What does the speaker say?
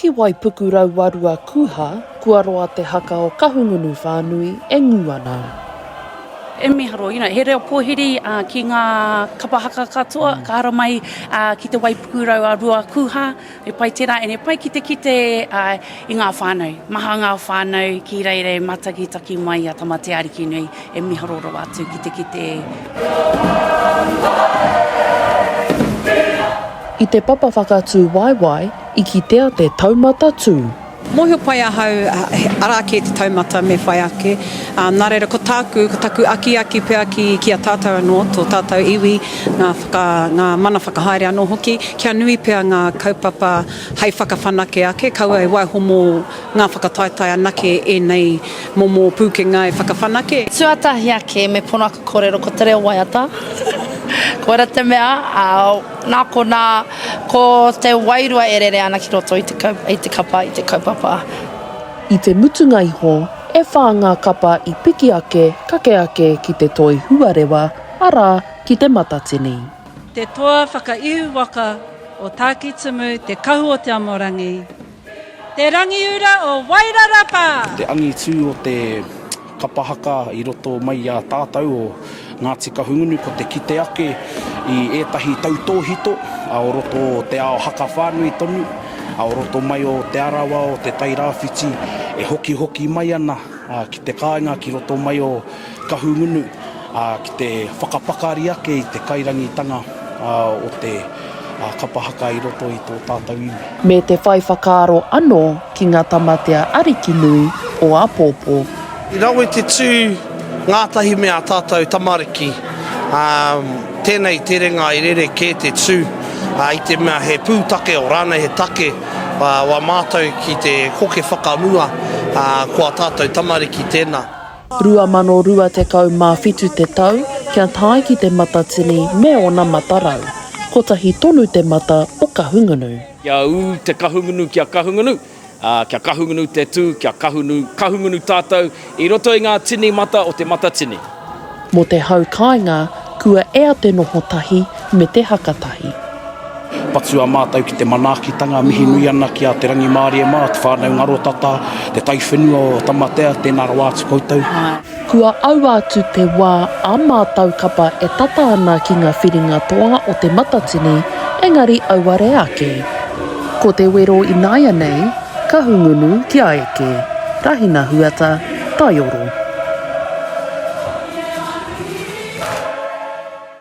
Ki Waipuku Rauarua Kuha, kua roa te haka o Kahungunu whānui e ngū ana. E miharo, you know, he reo pōhiri ki ngā kapa haka katoa ka haramai ki te Waipuku Rauarua Kuha, he pai tērā and he pai ki te kite i ngā whānau, maha ngā whānau ki reirei matakitaki mai i a Tamateaarikinui. E miharo rawa atu ki te kite e. I te papa whakatū waewae i kitea te taumata tū. Mōhio pai ahau, arā kē te taumata me whai ake, ā, nā reira ko tāku, ko taku akiaki pea ki, ki a tātou anō, tō tātou iwi, ngā whaka, ngā mana whakahaere anō hoki, kia nui pea ngā kaupapa hei whakawhanake ake, kaua e waiho mō. Ngā whakataetae anake ēnei momo pūkenga e whakawhanake. Tuatahi ake, me pono aku kōrero ko te reo waiata. Koira te mea, ā, nā konā, ko te wairua e rere ana ki roto i te kau, i te kapa, i te kaupapa. I te mutunga iho, e whā ngā kapa i piki ake, kake ake ki te toi huarewa, arā, ki te matatini. Te toa whakaihu waka o Tākitimu, te kahu o Te Amorangi, Te Rangiura o Wairarapa! Te angitu o te kapa haka i roto mai i a tātau o Ngāti Kahungunu ko te kite ake i ētahi tautōhito o roto o te ao haka whānui tonu, o roto mai o Te Arawa o Te Tairāwhiti e hokihoki mai ana ki te kāinga ki roto mai o Kahungunu, ā, ki te whakapakari ake i te kairangitanga o te kapa haka i roto i tō tātou iwi. Me te whai whakaaro anō ki ngā tamatea ariki nui o āpōpō. I rawe te tū ngātahi me ā tātou tamariki, ā, tēnei terenga i rere kē te tū, ā, i te mea he pūtake o rānei he take wā mātou ki te koke whakamua, ā, ko ā tātou tamariki tēnā. 2027 te tau kia tae ki te Matatini me ona matarau. Kotahi tonu te mata o Kahungunu. Kia ū te Kahungunu kia Kahungunu, ā, kia Kahungunu te tū, kia Kahunu, Kahungunu tātou i roto i ngā tini mata o te Matatini. Mō te hau kāinga, kua ea te noho tahi me te haka tahi. Patua mātou ki te manaakitanga, mihi nui ana ki a Te Rangimārie mā, te whānau ngaro tata, te taiwhenua o Tamatea, tēnā rawa atu koutou. Kua aua atu te wā a mātou kapa e tata ana ki ngā whiringa toa o Te Matatini, engari auare ake. Ko te wero ināianei, Kahungunu kia eke, Rahina Huata, Taioro.